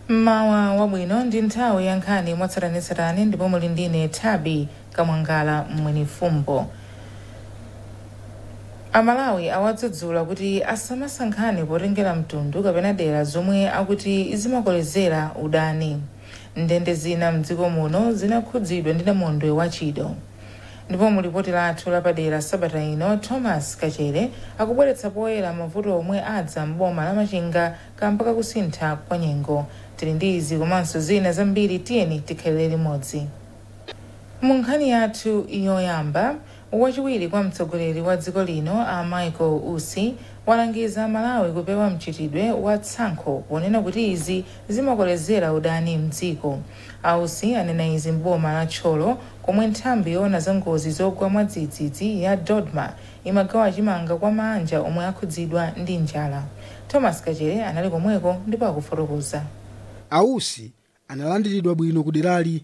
mmawa wabwino ndi nthawi ya nkhani mwatsatanetsatane ndipo muli ndine thabi kamwangala mwenifumbo amalawi awadzudzula kuti asamasankhane potengera mtundu kapena dera zomwe akuti zimakolezera udani Ndende zina m'dziko muno zinakhudzidwa ndi namondwe wa Chido ndipo mu lipoti lathu lapadera sabata ino, Thomas Kachere akubweretsa poyera mavuto omwe adza m'boma la Machinga kamba ka kusintha kwa nyengo. Tili ndi izi komanso zina zambiri tiyeni tikhalire limodzi. Mu nkhani yathu yoyamba, Wachiwiri kwa mtsogoleri wa dziko lino a Michael Usi walangiza Amalawi kupewa mchitidwe wa tsankho ponena kuti izi zimakolezera udani mdziko. A Usi anena izi m'boma la Thyolo komwe nthambi yoona za ngozi zogwa mwadzidzidzi ya Dodma imagawa chimanga kwa maanja omwe akhudzidwa ndi njala. Thomas Kachere anali komweko ndipo akufotokoza. A Usi analandiridwa bwino kuderali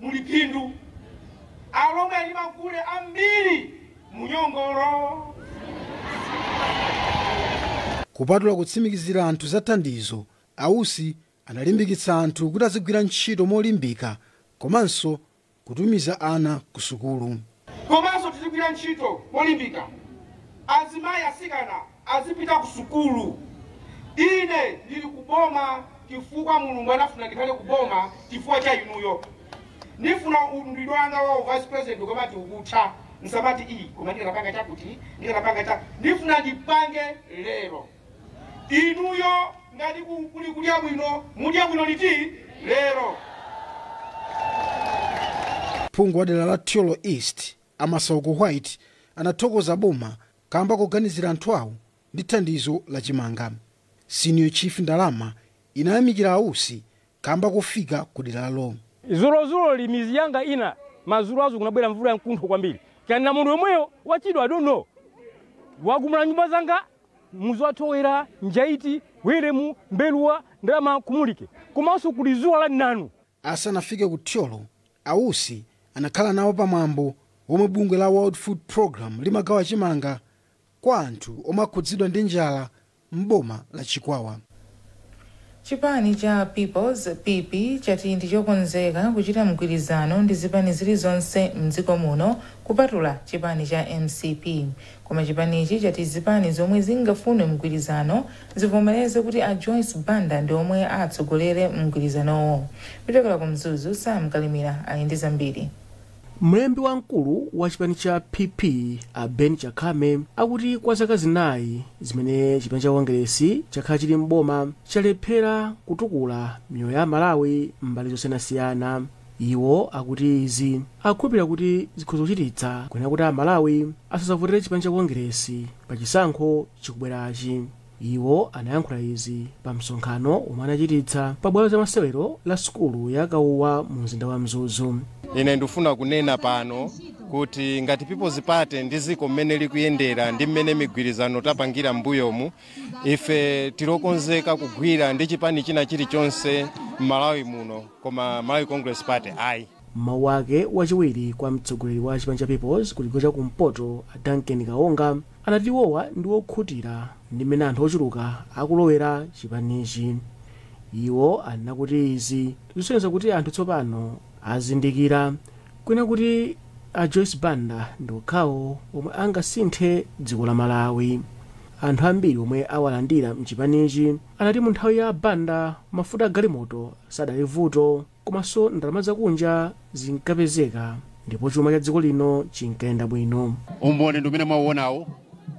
muli phindu. Alomwe ali magule ambiri mu Nyongolo. Kupatula kutsimikizira anthu za thandizo, a Usi analimbikitsa anthu kuti azigwira ntchito molimbika komanso kutumiza ana ku sukulu. Komanso tizigwira ntchito molimbika. Azimayi, atsikana azipita ku sukulu. Ine ndili ku boma chifukwa Mulungu anafuna ndikhale ku boma chifukwa cha inuyo. Ndifuna udindo wanga wa u vice president ukamati ukutha, msamati ii koma ndikanapanga chakuti, ndikanapanga cha- Ndifuna ndipange lero. inuyo ngati ku- kuli kudya bwino mudya bwino liti lero phungu wa dera la thyolo east a masauko white anathokoza boma kamba koganizira anthu awo ndi thandizo la chimanga senior chief ndalama inayamikira a Usi kamba kofika ku deralo. Dzulodzuloli mizi yanga ina madzulo ake kunabwera mvula yamkuntho kwambiri kaya namondwe omweyo wa chido i don't know wagumula nyumba zanga muzi wa thowera, njaiti, Welemu, mbeluwa, ndalama, kumulike komanso kuli dzuwa la mnanu. Asanafike ku Thyolo, a Usi anakhala nawo pa mwambo womwe bungwe la World Food Programme limagawa chimanga kwa anthu omwe akhudzidwa ndi njala m'boma la Chikwawa. Chipani cha People's, PP, chati ndi chokonzeka kuchita mgwirizano ndi zipani zilizonse m'dziko muno kupatula chipani cha mcp. Koma chipanichi chati zipani zomwe zingafune mgwirizano zivomereze kuti a Joyce Banda ndi omwe atsogolere mgwirizanowo. Kuchokera ku Mzuzu, Sam Kalimira ali ndi zambiri. Mlembi wamkulu wa chipani cha PP a Ben Chakhame akuti kwa zaka zinayi zimene chipani cha Kongeresi chakhala chili m'boma chalephera kutukula miyoyo ya Amalawi m'mbali zosiyanasiyana. Iwo akuti izi akukhulupirira kuti zikhoza kuchititsa kunena kuti Amalawi asazavotere chipani cha Kongeresi pa chisankho chikubwerachi. Iwo anayankhula izi pa msonkhano omwe anachititsa pa bwalo za masewero la sukulu ya Kawuwa mu mzinda wa Mzuzu. Ine ndikufuna kunena pano kuti ngati People's Party ndi ziko mmene likuyendera ndi mmene migwirizano tapangira m'mbuyomu, ife tilokonzeka kugwira ndi chipani china chilichonse m'Malawi muno koma Malawi Congress Party ayi. M'mawu ake wachiwiri kwa mtsogoleri wa chipani cha People's kuchigawo cha kumpoto a Duncan Kaonga anati iwowa ndi wokhutira ndi m'mene anthu ochuluka akulowera chipanichi. Iwo anena kuti izi zikusonyeza kuti anthu tsopano azindikira kunena kuti a Joyce Banda ndi okhawo omwe angasinthe dziko la Malawi. Anthu ambiri omwe awalandira mchipanichi anati mu nthawi ya a Banda mafuta a galimoto sadali vuto. Komanso ndalama zakunja zinkapezeka ndipo chuma cha dziko lino chinkayenda bwino. Umboni ndi umene mwauonawu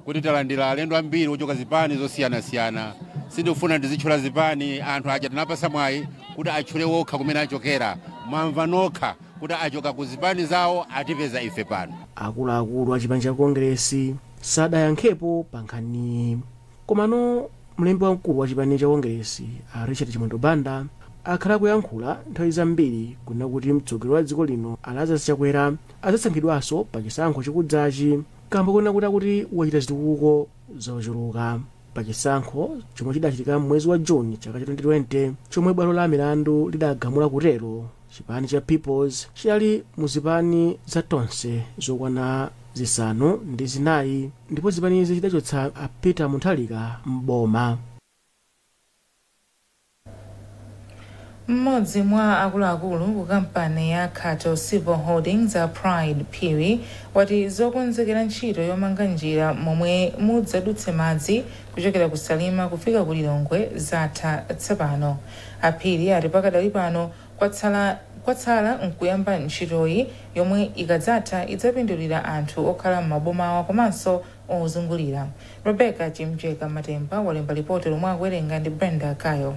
kuti talandira alendo ambiri ochoka zipani zosiyanasiyana. Sindikufuna ndizitchula zipani, anthu aja tinawapatsa mwayi kuti atchule okha kumene achokera. Mwamva nokha kuti achoka ku zipani zawo atipeza ife pano. Akuluakulu a chipani cha Kongeresi sadayankhepo pa nkhaniyi. Komano mlembi wamkulu wa chipani cha Kongeresi a Richard Chimwendo Banda akhala akuyankhula nthawi zambiri kunena kuti mtsogoleri wa dziko lino a Lazarus Chakwera adzasankhidwanso pa chisankho chikudzachi kamba konena kuti akuti wachita zitukuko zochuluka pa chisankho chomwe chidachitika m'mwezi wa June chaka cha 2020 chomwe bwalo la milandu lidagamula kutero. Chipani cha Peoples chidali mu zipani za Tonse zokwana zisanu ndi zinayi ndipo zipanizi zidachotsa a Peter Mutharika m'boma. M'modzi mwa akuluakulu ku kampani ya Khato Civil Holdings a Pride Phiri wati zokonzekera ntchito yomanga njira momwe mudzadutse madzi kuchokera ku Salima kufika ku Lilongwe zatha tsopano. A Phiri ati pakadali pano kwatsala nkuyamba ntchitoyi yomwe ikadzatha idzapindulira anthu okhala m'mabomawa komanso ozungulira. Rebecca Chimjeka Matemba walemba lipoti lomwe akuwerenga ndi Brenda Kayo.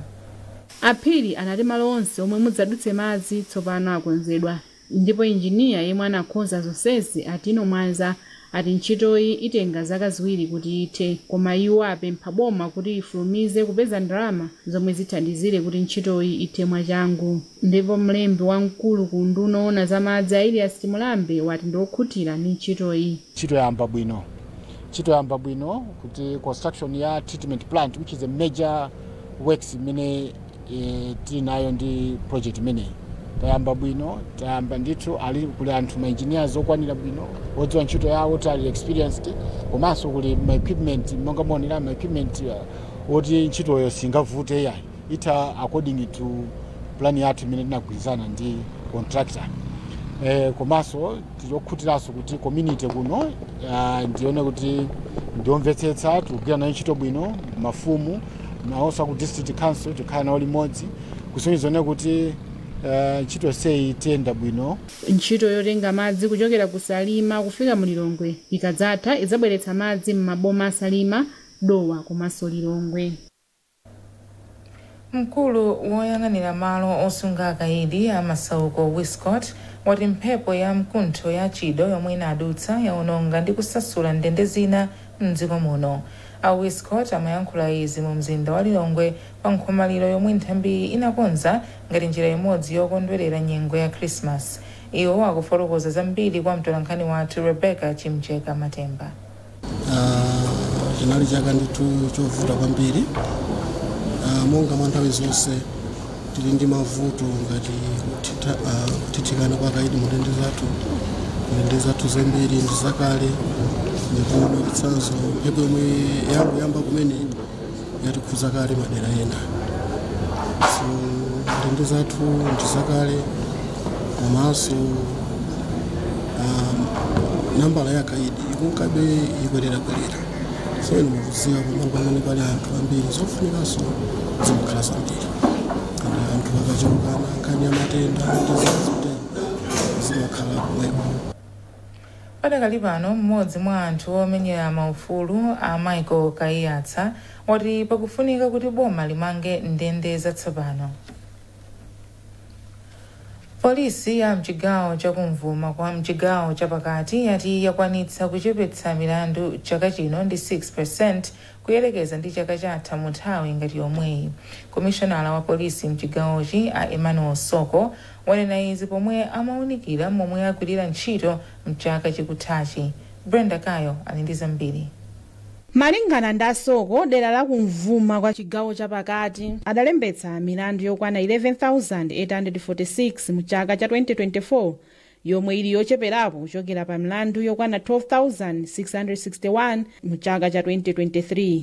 A Phiri anati malo onse omwe mudzadutse madzi tsopano akonzedwa Ndipo engineer yemwe anakonza zonsezi, a Tino Mwanza, ati ntchitoyi itenga zaka ziwiri kuti ithe, koma iwo apempha boma kuti lifulumize kupeza ndalama zomwe zithandizire kuti ntchitoyi ithe mwachangu. Ndipo mlembi wamkulu ku unduna woona za madzi, a Elias Chimulambe, wati ndiokhutira ndi ntchitoyi. Ntchito yayamba bwino. Ntchito yayamba bwino kuti construction ya treatment plant which is a major works imene eh, tili nayo ndi project imeneyi tayamba bwino tayamba ndithu ali kuli anthu ma engineers okwanira bwino odziwa ntchito yawo kuti ali experienced komanso kuli ma equipment monga mwaonera ma equipment uh, oti ntchitoyo singavute yayi itha according to plan yathu imene tinagwirizana ndi contractor eh, komanso tili okhutiranso kuti community kuno ah, ndione kuti ndiomvetsetsa tikugwira nayo ntchito bwino mafumu nawonso aku district council tikhala nawo limodzi kusonyeza zoona kuti ah, ntchito yonseyi iyenda bwino ntchito yotenga madzi kuchokera ku salima kufika mu lilongwe ikadzatha idzabweretsa madzi m'maboma a salima dowa komanso lilongwe Mkulu woyang'anira malo osunga akaidi a Masauko Wiscot wati mphepo ya mkuntho ya Chido yomwe inadutsa yaononga ndi kusasula ndende zina mdziko muno. A Wiscot amayankhula izi mu mzinda wa Lilongwe pa nkhomaliro yomwe nthambiyi inakonza ngati njira imodzi yokondwelera nyengo ya Christmas. Iwo akufotokoza zambiri kwa mtolankhani wathu Rebecca Chimjeka Matemba. chinali chaka ndithu chovuta kwambiri Ah, monga mwa nthawi zonse tili ndi mavuto ngati kuthitha- ah, kuthithikana kwa akaidi mu ndende zathu ndende zathu zambiri ndi zakale ndipo mwachitsanzo mphepo yomwe yangoyamba kumene yatikhudza kale madera ena so ndende zathu ndi zakale komanso um, nambala ya akaidi ikunkabe ikwererakwerera so inu mukuziwa pamalo pamene pali anthu ambiri zofunikanso zimakhala zambiri ndi anthu akachulukana nkhani ya matenda ndi zazitero zimakhala pomwepo Padakali pano m'modzi mwa anthu omenyera ma ufulu a Michael Kaiyatsa wati pakufunika kuti boma limange ndende zatsopano. Polisi ya mchigawo cha kummvuma kwa mchigawo cha pakati yati yakwanitsa kuchepetsa milandu chaka chino ndi 6% kuyerekeza ndi chaka chatha mu nthawi ngati yomweyi. Komishonala wa polisi mchigawochi a Emmanuel Soko wanena izi pomwe amaunikira momwe agwirira ntchito mchaka chikuthachi. Brenda Kayo ali ndi zambiri. Malingana ndi Soko, dera la kumvuma kwa chigawo cha pakati adalembetsa milandu yokwana 11,846 mu chaka cha 2024 yomwe ili yocheperapo kuchokera pa milandu yokwana 12,661 mu chaka cha 2023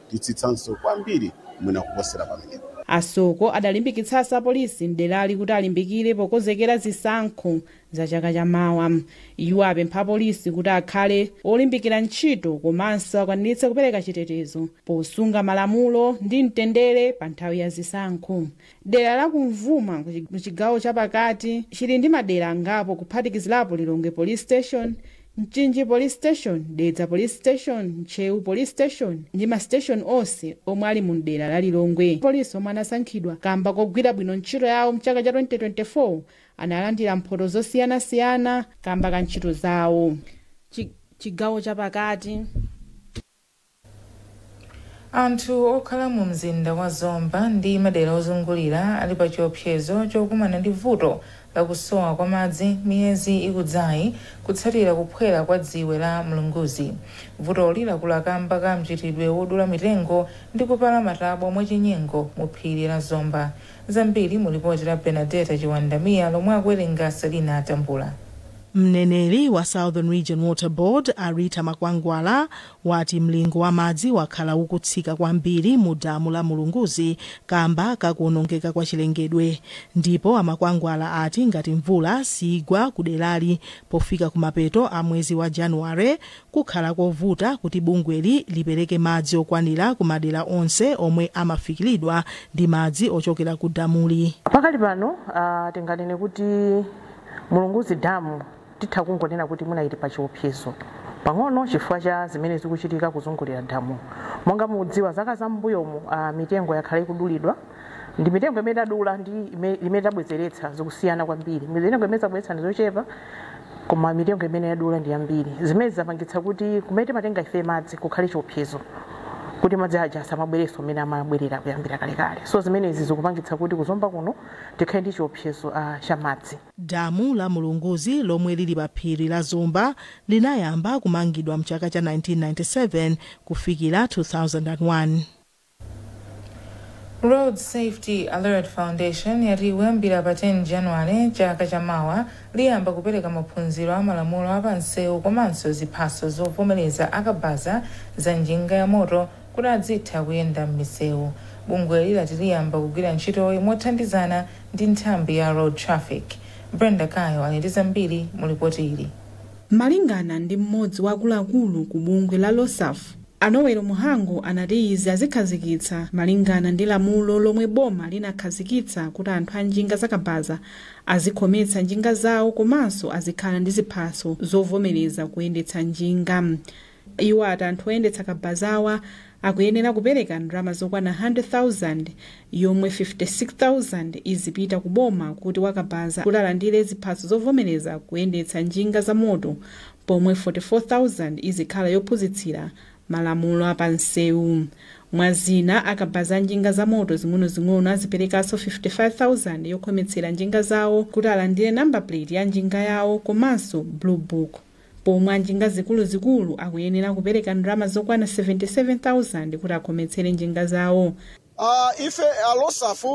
titsitsanso kwambiri mwina kuposera pamenepa. A Soko adalimbikitsanso apolisi m'derali kuti alimbikire pokonzekera zisankho za chaka cha mawa. Iwo apempha apolisi kuti akhale olimbikira ntchito komanso akwaniritse kupereka chitetezo posunga malamulo ndi mtendere pa nthawi ya zisankho. dera la kumvuma muchigawo chapakati chili ndi madera angapo kuphatikizirapo lilongwe police station mchinji police station dedza police station ntcheu police station ndi masiteshoni onse omwe ali mu dera la lilongwe polisi omwe anasankhidwa kamba kogwira bwino ntchito yawo mchaka cha 2024 analandira mphoto zosiyanasiyana kamba ka ntchito zawo Chigawo chapakati Anthu okhala mu mzinda wa Zomba ndi madera ozungulira ali pa chiopsezo chokumana ndi vuto la kusowa kwa madzi miyezi ikudzayi kutsatira kuphwera kwa dziwe la Mlunguzi. Vutoli lakula kamba ka mchitidwe wodula mitengo ndi kupala matabwa mwachinyengo mu phiri la Zomba. Zambiri mu lipoti la Bernadetta Chiwanda Mia lomwe akuwerenga Selina Tambula. Mneneri wa Southern Region Water Board, a Rita Makwangwala, wati mlingo wa madzi wakhala ukutsika kwambiri mu damu la Mulunguzi kamba ka kuonongeka kwa chilengedwe. Ndipo a Makwangwala ati ngati mvula siigwa ku derali pofika kumapeto a mwezi wa January, Kukhala kovuta kuti bungweli lipereke madzi okwanira ku madera onse omwe amafikilidwa ndi madzi ochokera ku damuli. Pakali pano a tinganene kuti Mulunguzi Dam titha kungonena kuti mwina ili pa chiopsezo pang'ono chifukwa cha zimene zikuchitika kuzungulira damu. Monga mudziwa zaka za m'mbuyomu a mitengo yakhala ikudulidwa. ndi mitengo imene adula ndi ime- imene tabwezeretsa zikusiyana kwambiri mitengo imene tabwezeretsa ndi zochepa koma mitengo imene yadula ndi yambiri zimene zapangitsa kuti kumene timatenga ife madzi kukhale chiopsezo kuti madzi aja asamabwerenso mmene amabwerera kuyambira kalekale so zimenezi zikupangitsa kuti kuzomba kuno tikhale ndi chiopsezo uh, cha madzi damu la mulunguzi lomwe lili pa phiri la zomba linayamba kumangidwa mchaka cha 1997 kufikira 2001 Road Safety Alert Foundation yati kuyambira pa 10 January chaka cha mawa liyamba kupereka maphunziro a malamulo a pa nsewu komanso ziphaso zovomereza a kabaza za njinga ya moto kuti adzitha kuyenda m'misewu. Bungweli lati liyamba kugwira ntchitoyi mothandizana ndi nthambi ya Road Traffic. Brenda Kayo ali ndi zambiri mu lipoti ili. Malingana ndi m'modzi wa akuluakulu ku bungwe la ROSAF, A Noel Muhango anati izi azikhazikitsa malingana ndi lamulo lomwe boma linakhazikitsa kuti anthu a njinga za kabaza azikhometsa njinga zawo komanso azikhala ndi ziphaso zovomeleza kuyendetsa njinga. Iwo ati anthu oyendetsa kabazawa akuyenera kupeleka ndalama zokwana 100,000 yomwe 56,000 izipita ku boma kuti wa kabaza kuti alandire ziphaso zovomeleza kuyendetsa njinga za moto pomwe 44,000 izikhala yophunzitsira malamulo apanseu. Mwa zina, akabaza a njinga zamoto zing'onozing'ono aziperekanso 55,000 yokhometsera njinga zawo kuti alandire number plate ya njinga yawo komanso Blue Book, pomwe a njinga zikuluzikulu akuyenera kupereka ndalama zokwana 77,000 kuti akhometsere njinga zawo. Ife a ROSAF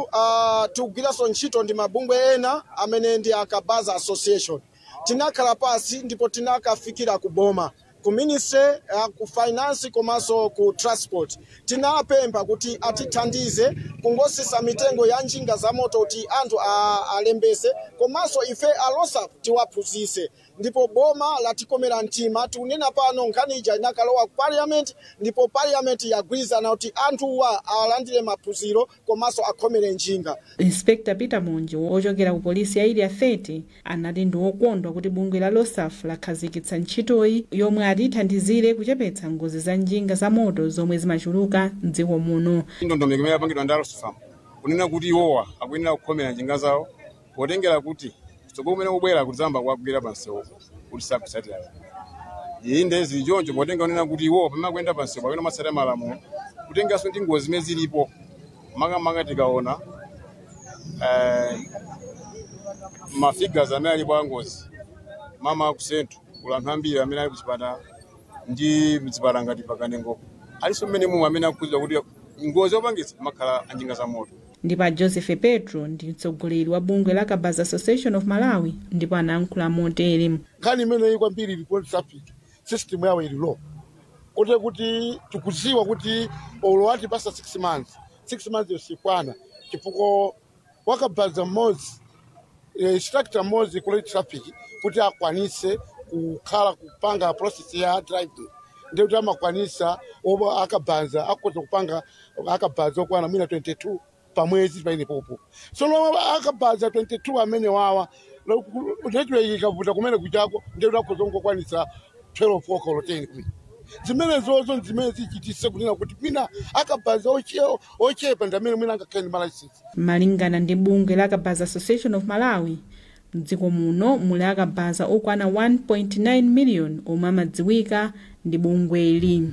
tikugwiranso ntchito ndi mabungwe ena amene ndi a Kabaza Association. Tinakhala pasi ndipo tinakafikira ku boma, ku ministry a ku finance komanso ku transport. Tinapempha kuti atithandize kungotsitsa mitengo ya njinga za moto kuti anthu a, alembese komanso ife a ROSAF tiwaphunzise. Ndipo boma latikomera mtima. Tikunena pano nkhani ija inakalowa ku parliament ndipo parliament yagwirizana kuti anthuwa alandire maphunziro. komanso akhomele njinga. Inspector Peter Monje ochokera ku polisi ya Area 30 anati ndi okondwa kuti bungwe la ROSAF lakhazikitsa ntchitoyi yomwe ati ithandizire kuchepetsa ngozi za njinga za moto zomwe zimachuluka m'dziko muno. Ndondomeko imene yapangidwa ndi a ROSAF kunena kuti iwowa akuyenera kukhomera njinga zawo potengera kuti kutsogolo kumene kukubwera tidzayamba kuwagwira pa msewu kuti sakutsatira izi ndiye zili choncho potengera kunena kuti iwo pamene akuyenda pa msewu pakhala asamatsatira malamulo kutengeranso ndi ngozi zimene zilipo makamaka tikaona eh, mafigures amene alipo angozi makamaka ku Central kuli anthu ambiri amene ali kuchipatala ndi mzipatala ngati pakanengo alinso mmene mumwe amene akukhudzidwa kuti ngozi yopangitsa amakhala anjinga za moto ndipo a Joseph Petro ndi mtsogoleri wa bungwe la Kabaza Association of Malawi ndipo anayankhula motere. nkhani imeneyi kwambiri ili ku road traffic system yawo ili low koti kuti tikuziwa kuti olo atipasa 6 months 6 months yo siikwana chifukwa wakabaza mmodzi e, instructor mmodzi ku road traffic kuti akwanise kukhala kupanga process ya driving ndiye kuti amakwanisa olo akabaza akhoza kupanga akabaza okwana mwina 22 pamwezi paanepapo sono akabaza 22 amenewawa network ikavuta kumene kujako ndiye kuti akhoza kungokwanisa 12 olo 10 kuli zimenezozo nzimene zichitise kunena kuti mwina akabaza oche- ochepa ndi amene mwina angakhale ndi malayisensi Malingana ndi bungwe la Kabaza Association of Malawi, mdziko muno muli akabaza okwana 1.9 million omwe amadziwika ndi bungweli.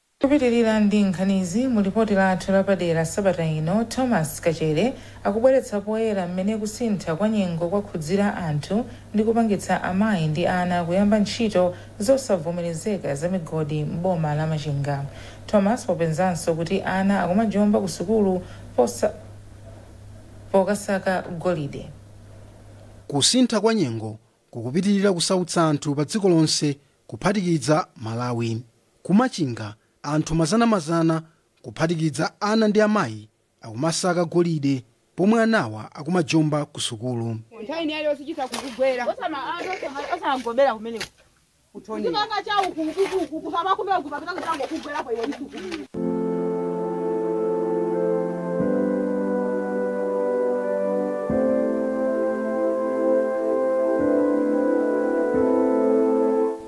Kupitilira ndi nkhanizi mu lipoti lathu lapadera sabata ino, Thomas Kachere akubweretsa poyera mmene kusintha kwa nyengo kwakhudzira anthu ndi kupangitsa amayi ndi ana kuyamba ntchito zosavomerezeka za migodi m'boma la Machinga. Thomas wapezanso kuti ana akumajomba ku sukulu pokasaka golide. Kusintha kwa nyengo kukupitilira kusautsa anthu pa dziko lonse kuphatikiza Malawi. Ku Machinga anthu mazanamazana kuphatikiza ana ndi amayi akumasaka golide pomwe anawa akumajomba ku sukulu. Nthawi ina iliyonse chitha kukugwera.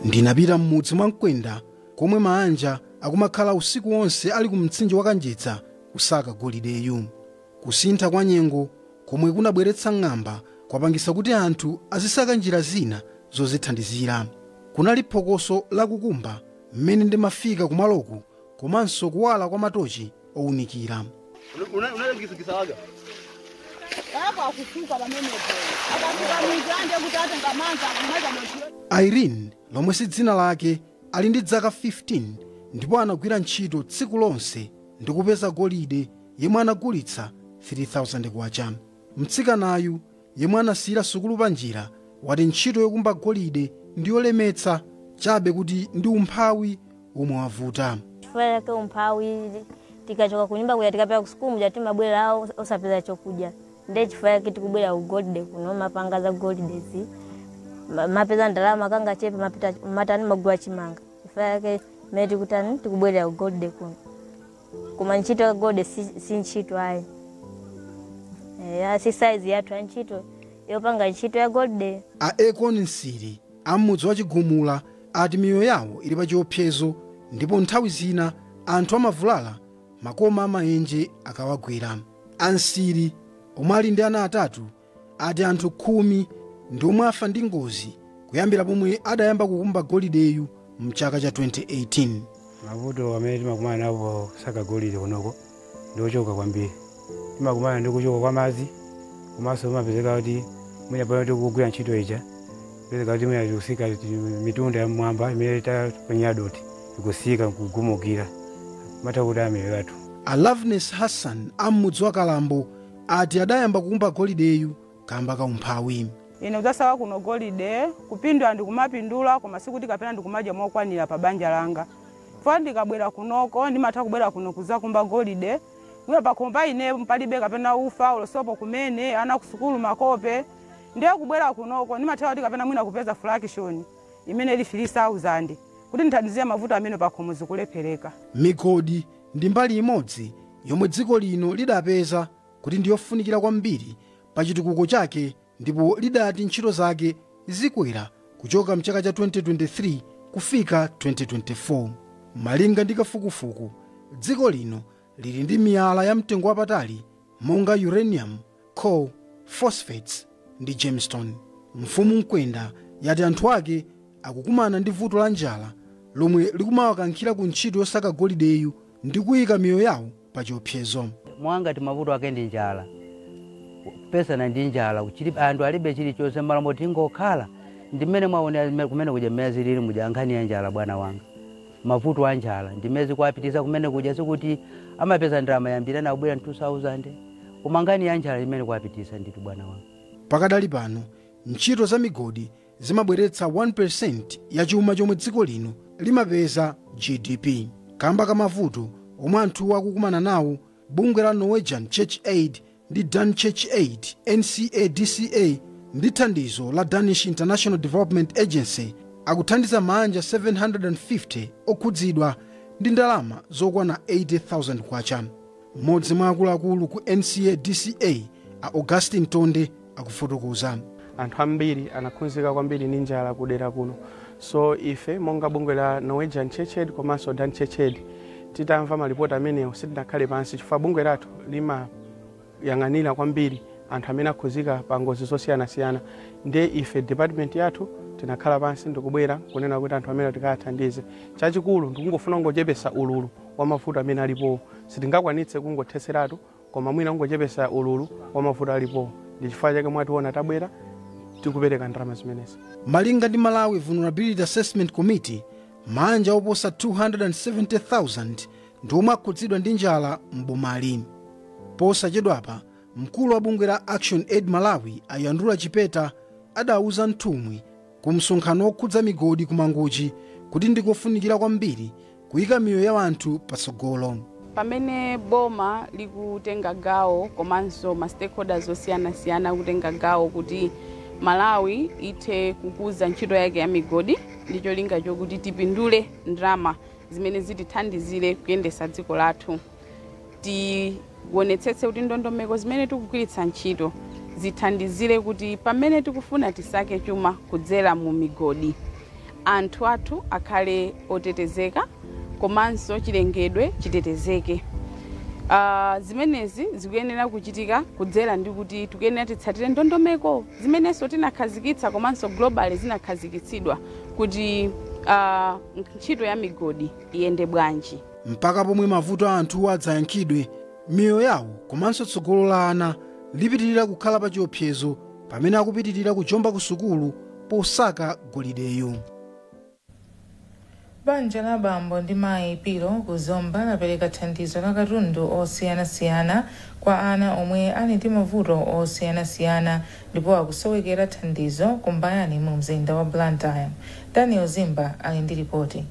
ndinapita m'mudzi mwa mkwenda komwe maanja akumakhala usiku wonse ali ku mtsinje wa kanjedza kusaka golideyu kusintha kwa nyengo komwe kunabweretsa ng'amba kwapangisa kuti anthu azisaka njira zina zozithandizira kunali phokoso lakukumba mmene ndimafika kumaloku komanso kuwala kwa matochi ounikira unalekizikisawaga apa akusuka pamenepo. Akafuka mizande kuti atenga manza kumaza motiro. irene lomwe si dzina lake ali ndi zaka 15 ndipo anagwira ntchito tsiku lonse ndi kupeza golide yemwe anagulitsa 3000 kwacha mtsikanayu yemwe anasiyira sukulu panjira, wati ntchito yokumba golide ndi yolemetsa, chabe kuti ndi umphawi womwe wavuta. Chifukwa chake umphawi, tikachoka kunyumba kuja tikapita kusukulu muja timabwera osapeza chokudya, ndiye chifukwa chake tikubwera kugolide kuno, mapanga za golidezi, mapeza ndalama kangachepe mapita matani magula chimanga, chifukwa chake mmene tikutani tikubwerera kugolide kuno. koma ntchito ya golide si, si ntchito ayi eya si saizi yathu ya ntchito yopanga ntchito ya golide a ekon nsiri a m'mudzi wa chigumula ati miyoyo yawo ili pa chiopsezo ndipo nthawi zina anthu amavulala makoma a maenje akawagwera a nsiri omwe ali ndi ana atatu ati anthu khumi ndi omwe afa ndi ngozi kuyambira pomwe adayamba kukumba golideyu mchaka cha 2018 mavuto amene timakumana nawo posaka golide kunoko ndi ochuluka kwambiri timakumana ndi kuchoka kwa madzi komanso umapezeka kuti mwina pano tikugwira ntchito ija pezeka kuti mwina tikutsika mitunda ya mmwamba imene taponyera dothi ikutsika nkugumukira imatha kutikwirira anthu a loveness hassan a m'mudzi wa kalambo ati adayamba kukumba golideyu kamba ka umphawi. Ine kudzasawa kuno golide, kupindula ndikumapindula koma sikuti kapena ndikumadya mokwanira pa banja langa. Chifukwa ndikabwera kunoko ndimatha kubwera kuno kudzakumba golide, mwina pakhomo pa ine palibe kapena ufa olo sopo kumene, ana kusukulu makope. Ndiye kubwera kunoko ndimatha kuti kapena mwina kupeza fraction imene ili 3,000 kuti ndithandizire mavuto amene pakhomo zikulephereka. Migodi ndi mbali imodzi yomwe dziko lino lidapeza kuti ndi yofunikira kwambiri pa chitukuko chake ndipo lidati ntchito zake zikwera kuchoka mchaka cha 2023 kufika 2024. Malinga ndi kafukufuku, dziko lino lili ndi miyala ya mtengo wapatali monga uranium coal, phosphates ndi gemstone. Mfumu Mkwenda yati anthu ake akukumana ndi vuto la njala lomwe likumawakankhira ku ntchito yosaka golideyu ndi kuika miyoyo yawo pa chiopsezo. Mwa ngati mavuto ake ndi njala, kupsana ndi njala, chili- anthu alibe chilichonse mmalo moti tingokhala ndi mmene mwaonera mme- kumene kuja mmene zilili muja nkhani ya njala bwana wanga mavuto a njala ndimene zikuwapitisa kumene kuja sikuti amapeza ndalama yambiri anabwera 2000 koma nkhani ya njala imene kuwapitisa ndithu bwana wanga pakadali pano ntchito za migodi zimabweretsa 1% ya chuma chomwe dziko lino limapeza gdp kamba ka mavuto omwe anthuwo akukumana nawo bungwe la norwegian church aid ndi Dan Church Aid, NCADCA, ndi thandizo la Danish International Development Agency akuthandiza maanja 750 okhudzidwa ndi ndalama zokwana 80,000 kwacha. Mmodzi mwa akuluakulu ku NCADCA, a Augustine Tonde, akufotokoza. Anthu ambiri anakhudzika kwambiri ndi njala ku dera kuno so ife monga bungwe la Norwegian Church Aid komanso Dan Church Aid titamva malipoti amenewo sitinakhale pansi chifukwa bungwe lathu limayang'anira kwambiri anthu amene akhudzika pa ngozi zosiyanasiyana nde ife department yathu tinakhala pansi ndikubwera kunena kuti anthu amene tikathandize chachikulu ndikungofuna kungochepesa ululu wa mavuto amene alipowo sitingakwanitse kungothetseratu Koma mwina kungochepesa ululu wa mavuto alipowu ndi chifukwa chake mwationa tabwera tikupereka ndalama zimenezi. Malinga ndi Malawi Vulnerability Assessment Committee, maanja oposa 270,000 ndi omwe akhudzidwa ndi njala m'bomali. Posachedwapa, mkulu wa bungwe la Action Aid Malawi a Yandula Chipeta adauza nthumwi ku msonkhano wokhudza migodi ku Mangochi kuti ndikofunikira kwambiri kuika miyoyo ya anthu patsogolo. Pamene boma likutenga gawo komanso ma stakeholders osiyanasiyana akutenga gawo kuti Malawi ithe kukuza ntchito yake ya migodi ndi cholinga chokuti tipindule ndalama zimene zitithandizire kuyendesa dziko lathu. Tionetsetse kuti ndondomeko zimene tikugwiritsa ntchito zithandizire kuti pamene tikufuna tisake chuma kudzera mu migodi, anthu athu akhale otetezeka komanso chilengedwe chitetezeke. Uh, zimenezi zikuyenera kuchitika kudzera ndi kuti tikuyenera titsatire ndondomeko zimenenso tinakhazikitsa komanso global zinakhazikitsidwa kuti uh, ntchito ya migodi iyende bwanji. mpaka pomwe mavuto a anthuwa adzayankhidwe, miyoyo yawo komanso tsogolo la ana lipitirira kukhala pa chiopsezo pamene akupitirira kujomba ku sukulu posaka golideyo. Banja la bambo ndi mayi Piro ku Zomba lapereka thandizo la katundu osiyanasiyana kwa ana omwe ali ndi mavuto osiyanasiyana ndipo akusowekera thandizo ku Mbayani mu mzinda wa Blantyre. Daniel Zimba ali ndi lipoti.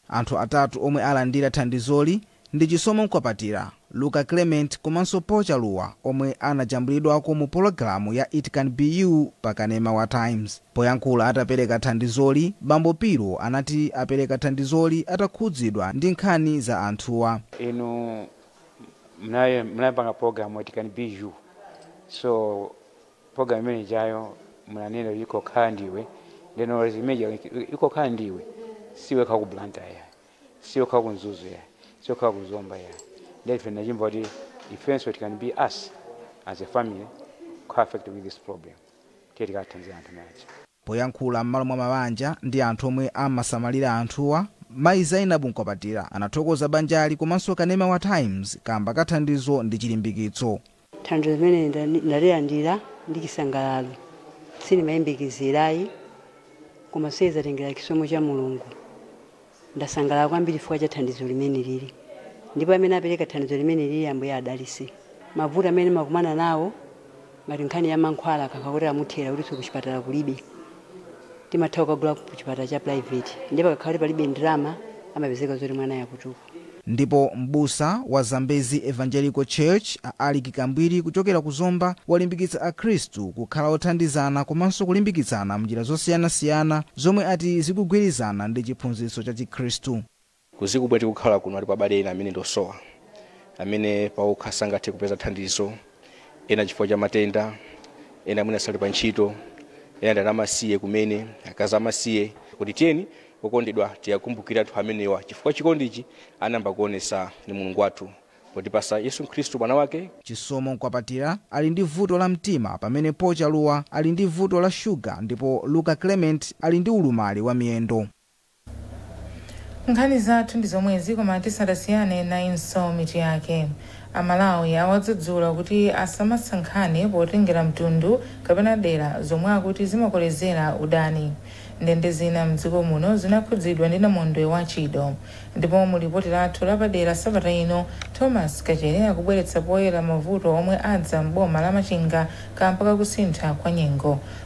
Anthu atatu omwe alandira thandizoli ndi Chisomo Nkwapatira, Luka Clement komanso Paul Chaluwa omwe anajambulidwako mu pologalamu ya It Can Be You pa kanema wa Times. Poyankhula atapereka thandizoli, Bambo Piro anati apereka thandizoli atakhudzidwa ndi nkhani za anthuwa. Inu mnapanga program It Can Be You so Program imene ijayo munanena kuti ikhoza kukhala iwe ndeno zimene zija ikhoza kukhala iwe siwekha ku Blantyre ya siwekha ku Mzuzu ya siwekha ku Zomba ya nde ife ndinachimva kuti ifenso it can be us as a family co-affected with this problem tiye tikathandize anthu manje Poyankhula m'malo mwa mabanja ndi anthu omwe amasamalira anthuwa, mayi Zainabu Nkwapatira anathokoza banjali komanso kanema wa Times kaamba ka thandizo ndi chilimbikitso. Thandizo limeneli ndalilandira ndi chisangalalo, sindimayembekezera ayi koma zatengera chisomo cha Mulungu. Ndasangalala kwambiri chifukwa cha thandizo limenelili ndipo amene apereka thandizo limenelili Ambuye adalitse. Mavuto amene ndimakumana nawo ngati nkhani ya mankhwala akakhala kuti amuthera kutinso kuchipatala kulibe timatha kukagula kuchipatala cha private ndipo pakakhala kuti palibe ndalama amapezeka zoti mwanayo akutupa. Ndipo m'busa wa Zambezi Evangelical Church a Alick Kambwiri kuchokera ku Zomba walimbikitsa akhristu kukhala othandizana komanso kulimbikitsana m'njira zosiyanasiyana zomwe ati zikugwirizana ndi chiphunzitso cha chikhristu. Kudziko komwe tikukhala kuno alipo abale ena amene ndi osowa amene pawokha sangathe kupeza thandizo. ena chifukwa cha matenda ena amene asali pa ntchito ena ndi ana amasiye kumene akazi amasiye kuti tiyeni okondedwa tiyakumbukire anthu amenewa chifukwa chikondichi anayamba kuonesa ni mulungu wathu potipasa yesu khristu mwana wake Chisomo Nkwapatira ali ndi vuto la mtima pamene Paul Chaluwa ali ndi vuto la shuga ndipo Luka Clement ali ndi ulumali wa miyendo. Nkhani zathu ndi zomwezi koma tisadasiyane nayinso mitu yake. Amalawi awadzudzula kuti asamasankhane potengera mtundu kapena dera zomwe akuti zimakolezera udani. Ndende zina m'dziko muno zinakhudzidwa ndi namondwe wa Chido. Ndipo mu lipoti lathu lapadera sabata ino, Thomas Kachere akubweretsa poyera mavuto omwe adza m'boma la Machinga kamba ka kusintha kwa nyengo.